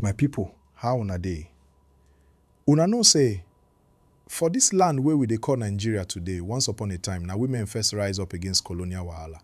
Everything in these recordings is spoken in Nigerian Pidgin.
My people, how una dey? Una know say for this land wey we dey call Nigeria today, once upon a time na women first rise up against colonial wahala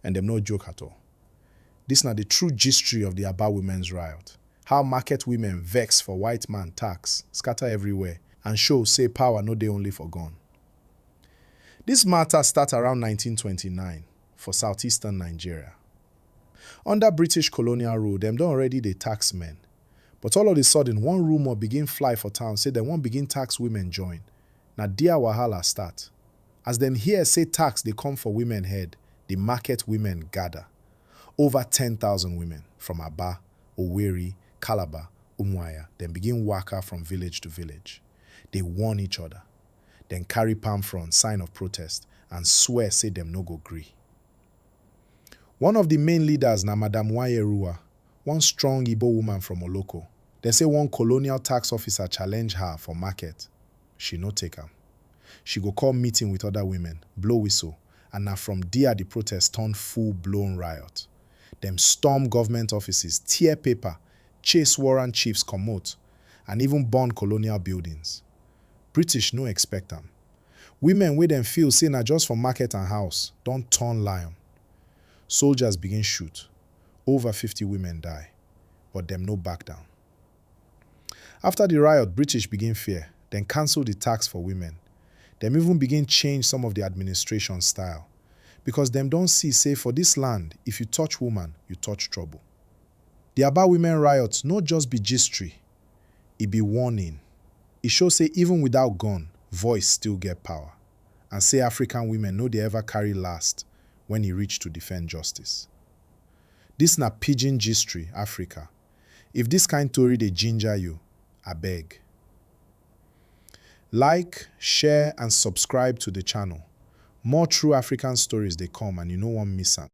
and dem no joke at all. This na the true gistry of the Aba women's riot, how market women vex for white man tax scatter everywhere and show say power no dey only for gun. This matter start around nineteen twenty nine for southeastern Nigeria. Under British colonial rule, dem don already dey tax men. But all of the sudden, one rumour begin fly for town say dem wan begin tax women join. Na dia wahala start. As dem hear say tax dey come for women head, the market women gather. Over ten thousand women from Aba, Owerri, Calabar, Umuahia, dem begin waka from village to village, dey warn each other. Dem carry palm frond, sign of protest, and swear say dem no go gree. One of di main leaders na Madam Nwayeruwa, one strong Ibo woman from Oloko. Dem say one colonial tax officer challenge her for market, she no take am. She go call meeting with other women, blow whistle and na from dia di protest turn full blown riot. Dem storm government offices, tear paper, chase warrant chiefs comot and even burn colonial buildings. British no expect am. Women wey dem feel say na just for market and house don turn lion. Soldiers begin shoot, over fifty women die, but dem no back down. After di riot, British begin fear, dem cancel di tax for women, dem even begin change some of di administration style, because dem don see say for dis land, if you touch woman, you touch trouble. Di Aba women riots no just be gistry, E be warning. E show say even without gun, voice still get power and say African women no dey ever carry last when e reach to defend justice. This na pidgin gistry Africa. If this kind tori dey ginger you, abeg like, share and subscribe to the channel. More true African stories dey come and you no wan miss am.